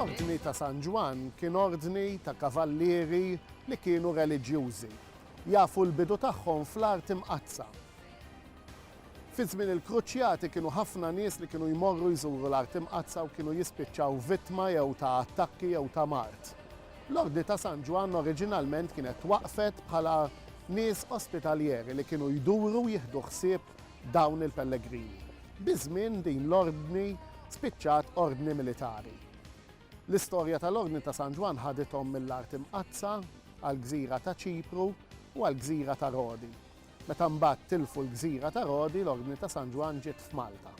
L-Ordni ta' San Ġwann kien ordni ta' kavallieri li kienu reliġjużi, jafu l-bidu tagħhom fl-Art Imqaddsa. Fi żmien il-Kruċjati kienu ħafna nies li kienu jmorru jżuru l-Art Imqaddsa u kienu jispiċċaw vittma jew ta' attakki jew ta' mard. L-Ordni ta' San Ġwann oriġinalment kienet waqfet bħala nies ospitaljeri li kienu jduru jieħdu ħsieb dawn il-pellegrini. Biż-żmien din l-ordni spiċċat ordni militari. L-istorja tal-Ordni ta' San Ġwann ħadithom mill-Art Imqaddsa għall-gżira ta' Ċipru u għall-gżira ta' Rodi. Meta mbagħad tilfu l-gżira ta' Rodi, l-Ordni ta' San Ġwann ġiet f'Malta.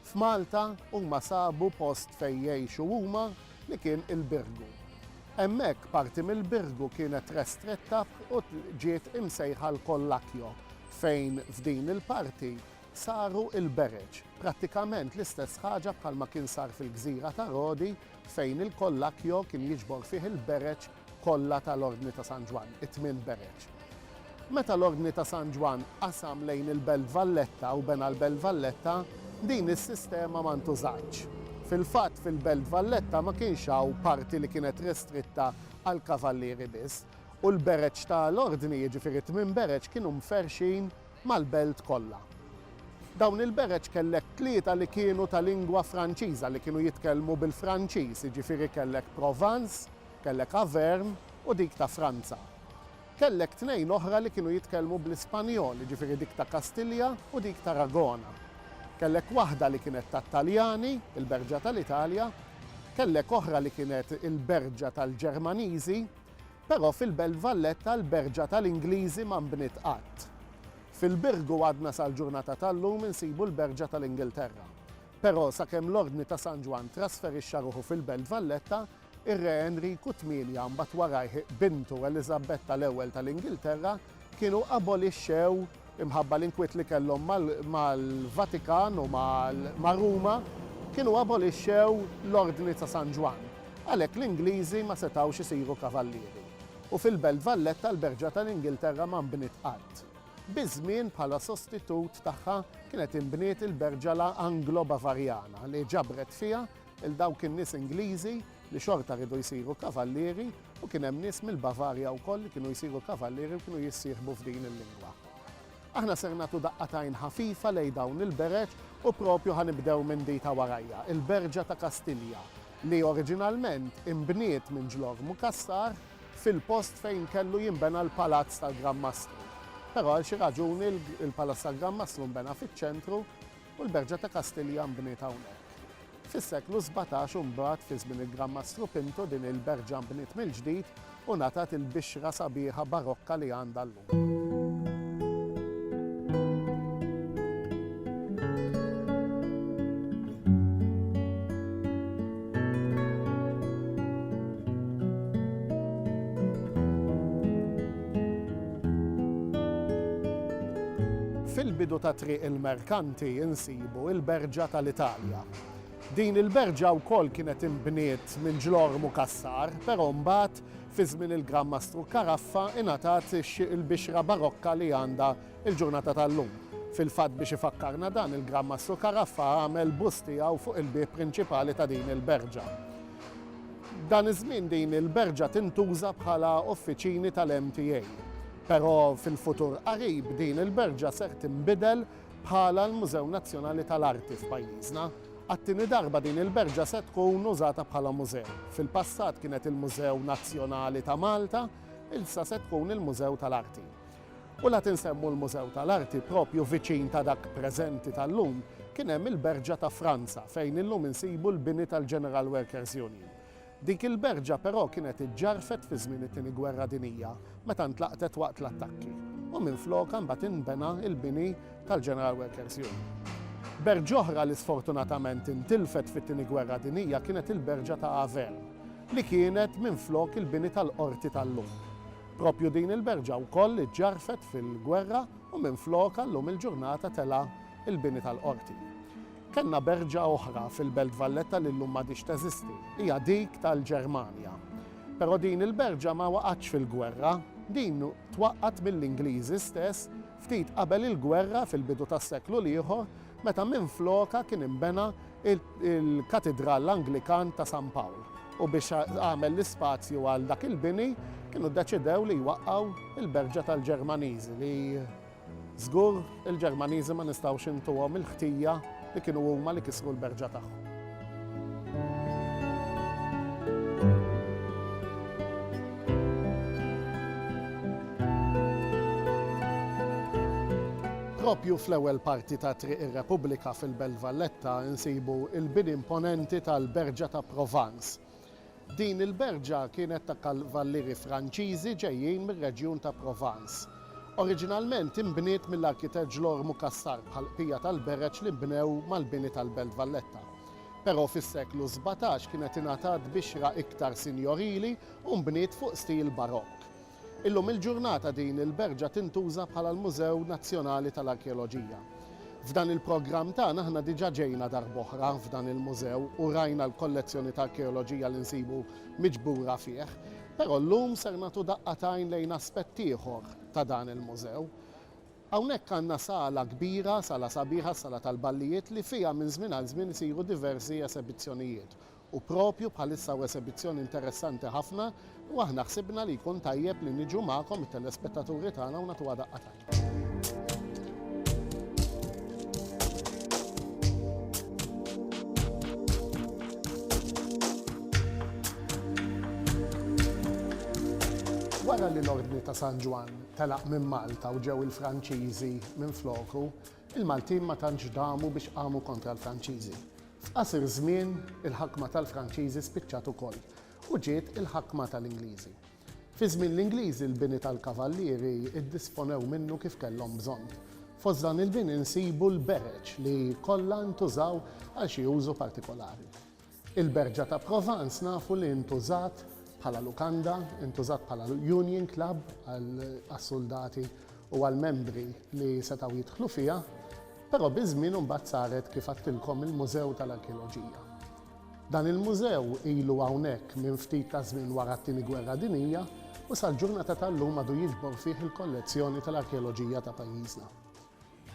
F'Malta huma sabu post fejn jgħixu huma li kien il-Birgu. Hemmhekk parti mill-Birgu kienet restretta u ġiet imsejħa l-Kollakjo fejn f'din il-parti saru l-bereġ, prattikament l-istess ħaġa bħalma kien sar fil-gżira ta' Rodi fejn il-Collacchio kien jiġbor fih il-bereġ kollha tal-Ordni ta' San Ġwann, it-tmien bereġ. Meta l-Ordni ta' San Ġwann qasam lejn il-Belt Valletta u bena l-Belt Valletta, din is-sistema ma ntużatx. Fil-fatt, fil-Belt Valletta ma kienx hawn parti li kienet restritta għall-kavallieri biss, u l-bereġ ta' l-Ordni, jiġifieri t-tmien bereġ, kienu mferrxin mal-belt kollha. Dawn il-bereġ kellek tlieta li kienu ta' lingwa Franċiża, li kienu jitkellmu bil-Franċiż, jiġifieri kellek Provence, kellek Auvergne u dik ta' Franza. Kellek tnejn oħra li kienu jitkellmu bl-Ispanjol, jiġifieri dik ta' Kastilja u dik t'Aragona. Kellek waħda li kienet tat-Taljani, il-berġa ta' l-Italja. Kellek oħra li kienet il-berġa tal-Ġermaniżi. Però fil-Belt Valletta l-berġa tal-Ingliżi ma nbniet qatt. Fil-Birgu għadna sal-ġurnata tal-lum insibu l-berġa tal-Ingilterra. Però sakemm l-Ordni ta' San Ġwann trasferixxa ruħu fil-Belt Valletta, ir-Re Enriku Tmienja u mbagħad warajh bintu Eliżabetta l-Ewwel tal-Ingilterra kienu abolixxew, imħabba l-inkwiet li kellhom mal-Vatikan u ma' Ruma, kienu abolixxew l-Ordni ta' San Ġwann. Għalhekk l-Ingliżi ma setgħux isiru kavallieri. U fil-Belt Valletta l-Berġa tal-Ingilterra ma nbniet qatt. Biż-żmien bħala sostitut tagħha kienet inbniet il-Berġala Anglo-Bavarjana li ġabret fiha 'l dawk in-nies Ingliżi li xorta riedu jsiru kavallieri u kien hemm nies mill-Bavarja wkoll li kienu jsiru kavallieri u kienu jissieħbu f'din il-lingwa. Aħna ser nagħtu daqqa t'għajn ħafifa lejn dawn il-bereġ u propju ħa nibdew minn di ta' warajja, il-Berġa ta' Kastilja, li oriġinalment inbniet minn Ġlormu Cassar fil-post fejn kellu jinbena l-Palazz tal-Gran Mastru. Però għal xi raġuni l-Palazz tal-Gran Mastru nbena fiċ-ċentru, u l-Berġa ta' Kastilja nbniet hawnhekk. Fis-seklu sbatax u mbagħad fi żmien il-Gran Mastru Pintu din il-Berġa nbniet mill-ġdid u ngħatat il-bixra sabiħa barokka li għandha llum. Fil-bidu ta' Triq il-Merkanti insibu il-Berġa tal-Italja. Din il-berġa wkoll kienet inbniet minn Ġlormu Cassar, però mbagħad, fi żmien il-Gran Mastru Caraffa, ingħatat il-bixra barokka li għandha l-ġurnata tal-lum. Fil-fatt biex ifakkarna dan, il-Gran Mastru Caraffa għamel bust tiegħu fuq il-bieb prinċipali ta' din il-berġa. Dan iż-żmien din il-berġa tintuża bħala uffiċini tal-MTA, però fil-futur qarib din il-berġa ser tinbidel bħala l-Mużew Nazzjonali tal-Arti f'pajjiżna. Għat-tieni darba din il-berġa se tkun użata bħala mużew. Fil-passat kienet il-Mużew Nazzjonali ta' Malta, ilsa se tkun il-Mużew tal-Arti. U la tinsemmu l-Mużew tal-Arti, proprju viċin ta' dak preżenti tal-lum, kien hemm il-Berġa ta' Franza fejn illum insibu l-bini tal-General Workers Union. Dik il-berġa però kienet iġġarfet fi żmien it-Tieni Gwerra Dinija meta ntlaqtet waqt l-attakki u minflokha mbagħad inbena l-bini tal-General Workers Union. Berġa oħra li sfortunatament intilfet fit-Tieni Gwerra Dinija kienet il-Berġa ta' Avermes li kienet minflok il-bini tal-Qorti tal-lum. Proprju din il-berġa wkoll iġġarfet fil-gwerra u minflokha llum il-ġurnata tela' l-bini tal-Qorti. Kellna berġa oħra fil-Belt Valletta li llum m'għadhiex teżisti, hija dik tal-Ġermanja. Però din il-berġa ma waqgħetx fil-gwerra, din twaqqgħet mill-Ingliżi stess ftit qabel il-gwerra fil-bidu tas-seklu l-ieħor meta minflokha kien inbena l-Katidral Anglikan ta' San Pawl u biex għamel l-ispazju għal dak il-bini kienu ddeċidew li jwaqqgħu l-Berġa tal-Ġermaniżi li żgur il-Ġermaniżi ma nistgħux intuhom il-ħtija li kienu huma li kisru l-berġa tagħhom. Proprju fl-ewwel parti ta' Triq ir-Repubblika fil-Belt Valletta nsibu l-bini imponenti tal-Berġa ta' Provence. Din il-berġa kienet ta' kavallieri Franċiżi ġejjin mir-reġjun ta' Provence. Oriġinalment inbniet mill-arkitett Ġlormu Cassar bħall-bqija tal-bereġ li nbnew mal-bini tal-Belt Valletta. Però fis-seklu sbatax kienet ingħatat bixra iktar sinjorili u nbniet fuq stil Barokk. Illum il-ġurnata din il-berġa tintuża bħala l-Mużew Nazzjonali tal-Arkeoloġija. F'dan il-programm tagħna aħna diġà ġejna darb'oħra f'dan il-mużew u rajna l-kollezzjoni ta' arkeoloġija li nsibu miġbura fih, però llum ser nagħtu daqqa t'għajn lejn aspett ieħor ta' dan il-mużew. Hawnhekk għandna sala kbira, sala sabiħa, s-sala tal-ballijiet li fiha minn żmien għal żmien isiru diversi esebizzjonijiet u proprju bħalissa hawn esebizzjoni interessanti ħafna u aħna ħsibna li jkun tajjeb li niġu magħkom it-telespettaturi tagħna u nagħtuha daqqa t'għajn. Wara li l-Ordni ta' San Ġwann telaq minn Malta u ġew il-Franċiżi minfloku, Il-Maltin ma tantx damu biex qamu kontra l-Franċiżi. F'qasir żmien, il-ħakma tal-Franċiżi spiċċat ukoll u ġiet il-ħakma tal-Ingliżi. Fi żmien l-Ingliżi l-bini tal-kavallieri ddisponew minnu kif kellhom bżonn. Fost dan il-bini nsibu l-bereġ li kollha ntużaw għal xi użu partikolari. Il-Berġa ta' Provence nafu li intużat bħala lukanda, intużat bħala Union Club għas-suldati u għall-membri li setgħu jidħlu fiha, però biż-żmien imbagħad saret kif għedtilkom il-Mużew tal-Arkeoloġija. Dan il-mużew ilu hawnhekk minn ftit taż-żmien wara t-Tieni Gwerra Dinjija u sal-ġurnata tal-lum għadu jiġbor fih il-kollezzjoni tal-arkeoloġija ta' pajjiżna.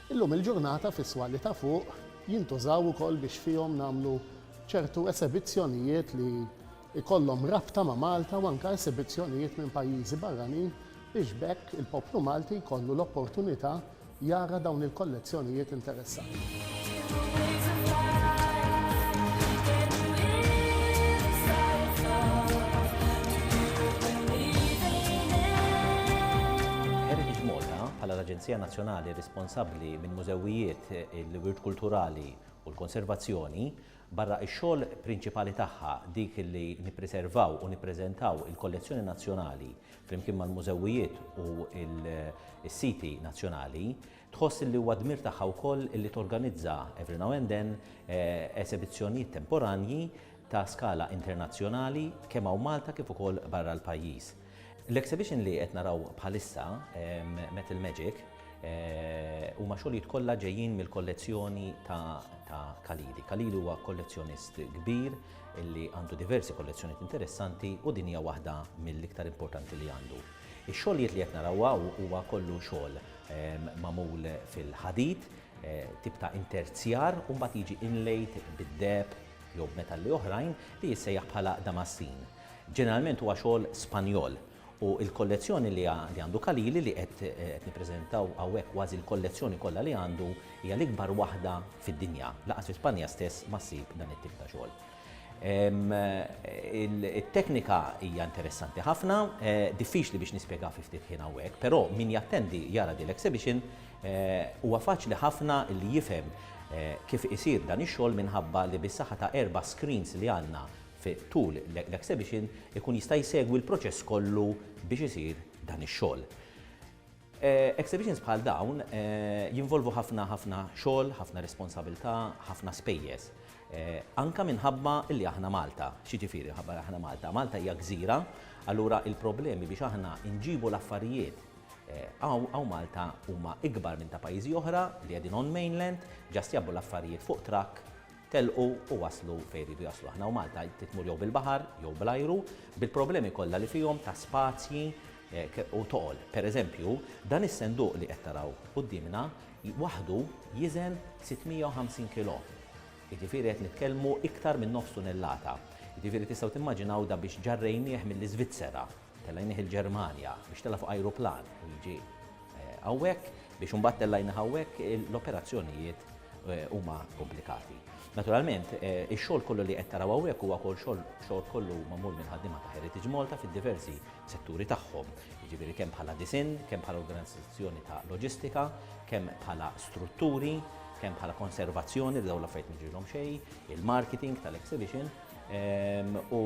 Illum il-ġurnata fis-swali ta' fuq jintużaw ukoll biex fihom nagħmlu ċertu esebizzjonijiet li jkollhom rabta ma' Malta u anke esebizzjonijiet minn pajjiżi barranin biex b'hekk il-poplu Malti jkollu l-opportunità jara dawn il-kollezzjonijiet interessanti. Heritage Malta, bħala l-Aġenzija nazzjonali responsabbli minn mużewijiet, il-wirt kulturali u l-konservazzjoni, barra x-xogħol prinċipali tagħha, dik li nippriservaw u nippreżentaw il-kollezzjoni nazzjonali flimkien mal-mużewijiet u s-siti nazzjonali, tħoss li huwa dmir tagħha wkoll li torganizza every now and then esebizzjonijiet temporanji ta' skala internazzjonali kemm hawn Malta kif ukoll barra l-pajjiż. L-exhibition li qed naraw bħalissa, ehm, Metal Magic, eh, huma xogħlijiet kollha ġejjin mill-kollezzjoni ta' Kalili. Kalili huwa kollezzjonist kbir li għandu diversi kollezzjonijiet interessanti u din hija waħda mill-iktar importanti li għandu. Ix-xogħlijiet li qed naraw huwa kollu xogħol ehm, magħmul fil-ħadid, eh, tip ta' interzjar u mbagħad jiġi inlejt bid-deb jew b'metalli oħrajn li jissejjaħ bħala damassin. Ġeneralment huwa xogħol Spanjol u l-kollezzjoni li għandu Khalili li qed nippreżentaw hawnhekk kważi l-kollezzjoni kollha li għandu hija l-ikbar waħda fid-dinja. Lanqas fi Spanja stess ma ssib dan it-tip ta' xogħol. It-teknika hija interessanti ħafna, diffiċli biex nispjegha fi ftit ħin hawnhekk, però min jattendi jara din l-exhibition huwa faċli ħafna li jifhem kif isir dan ix-xogħol minħabba li bis-saħħa ta' erba' screens li għandna fi tul l-exhibition ikun jista' jsegwi l-proċess kollu biex isir dan ix-xogħol. Exhibitions bħal dawn jinvolvu ħafna ħafna xogħol, ħafna responsabilità, ħafna spejjeż. Anka minħabba li aħna Malta, x'jiġifieri minħabba aħna Malta? Malta hija gżira, allura il-problemi biex aħna nġibu l-affarijiet għaw Malta huma ikbar minn ta' pajjiżi oħra li qegħdin on mainland, ġast jabbu l-affarijiet fuq trakk telqu u waslu fejn iridu jaslu. Aħna u Malta tmur jew bil-baħar jew bl-ajru, bil-problemi kollha li fihom ta' spazji u toqol. Per eżempju, dan is-senduq li qed taraw quddiemna waħdu jiżen 650 kilo. Jiġifieri qed nitkellmu iktar minn nofs tunellata. Jiġifieri tistgħu timmaġinaw da biex ġarrejnieh mill-Iżvizzera, telgħinih il-Ġermanja, biex tela' fuq ajruplan u jiġi hawnhekk biex imbagħad tellgħinih hawnhekk, l-operazzjonijiet huma komplikati. Naturalment, ix-xogħol kollu li qed taraw hawnhekk huwa wkoll xogħol kollu magħmul minn ħaddiema ta' Heritage Malta fid-diversi setturi tagħhom, jiġifieri kemm bħala disinn, kemm bħala organizzazzjoni ta' loġistika, kemm bħala strutturi, kemm bħala konservazzjoni li dawn l-affarijiet ma jiġrilhom xejn, il-marketing tal-exhibition u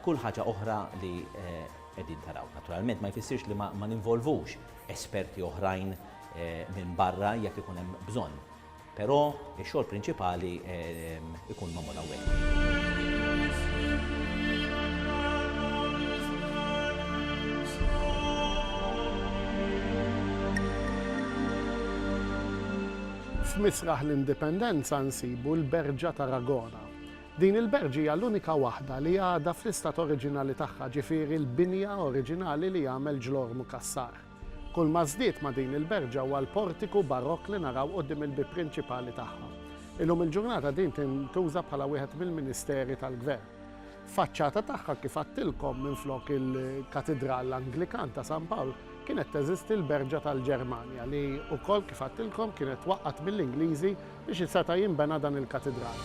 kull ħaġa oħra li qegħdin taraw. Naturalment ma jfissirx li ma ninvolvux esperti oħrajn minn barra jekk ikun hemm bżonn. Però ix-xogħol prinċipali ikun magħmul hawnhekk. F'Misraħ l-Indipendenza nsibu l-Berġa ta' Ragona. Din il-berġ hija l-unika waħda li għadha fl-istat oriġinali tagħha, ġifieri l-binja oriġinali li għamel Ġlormu Cassar. Kull ma żdied ma' din il-berġa huwa l-portiku Barokk li naraw quddiem il-bieb prinċipali tagħha. Illum il-ġurnata din tintuża bħala wieħed mill-Ministeri tal-Gvern. Faċċata tagħha, kif għadtilkom, minflok il-Katidral Anglikan ta' San Pawl, kienet teżisti l-berġa tal-Ġermanja li wkoll, kif għadtilkom, kienet twaqqgħet mill-Ingliżi biex iseta' jinbena dan il-katidral.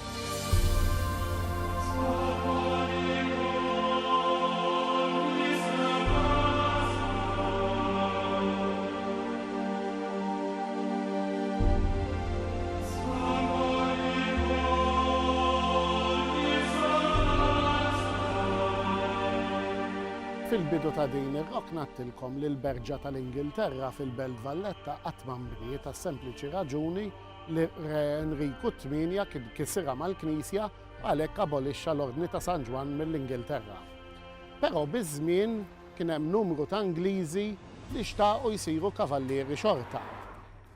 Fil-bidu ta' din ir-rokna għedtilkom li l-Berġa tal-Ingilterra fil-Belt Valletta qatt ma nbniet għas-sempliċi raġuni li Re Enriku t-Tmienja kien kisirha mal-Knisja għalhekk abolixxa l-Ordni ta' San Ġwann mill-Ingilterra. Però biż-żmien kien hemm numru ta' Ingliżi li xtaqu jsiru kavallieri xorta.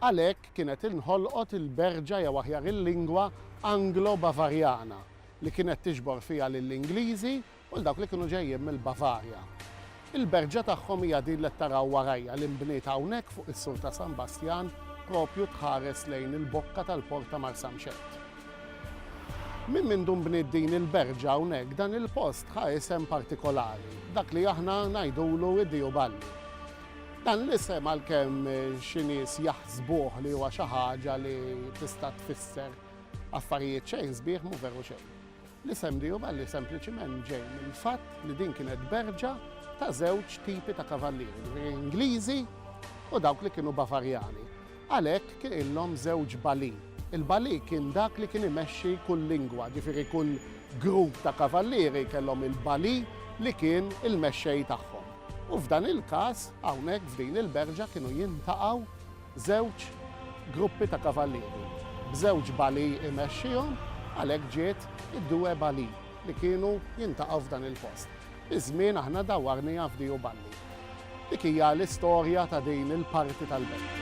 Għalhekk kienet inħolqot il-berġa jew aħjar il-lingwa Anglo-Bavarjana li kienet tiġbor fiha lill-Ingliżi u l-dawk li kienu ġejjin mill-Bavarja. Il-berġa tagħhom hija din li qed taraw warajja li nbniet hawnhekk fuq is-sur ta' San Bastjan propju tħares lejn il-bokka tal-port ta' Marsamxett. Minn mindu nbniet din il-berġa hawnhekk dan il-post ħa isem partikolari, dak li aħna ngħidulu id-Diju Balli. Dan l-isem għalkemm xi nies jaħsbuh li huwa xi ħaġa li tista' tfisser affarijiet xejn sbieħ mhu veru xejn. L-isem Diju Balli sempliċiment ġej mill-fatt li din kienet berġa ta' żewġ tipi ta' kavallieri, jiġifieri Ingliżi u dawk li kienu Bavarjani. Għalhekk kien illhom żewġ bali. Il-bali kien dak li kien imexxi kull lingwa, ġifieri kull grupp ta' kavallieri kellhom il-bali li kien il-mexxej tagħhom. U f'dan il-każ, hawnhekk f'din il-berġa kienu jintaqgħu Żewġ gruppi ta' kavallieri, b'żewġ bali imexxihom, għalhekk ġiet id-due bali li kienu jintaqgħu f'dan il-post. Biż-żmien aħna dawwarnija f'diu balli. Dik hija l-istorja ta' din il-parti tal-belt.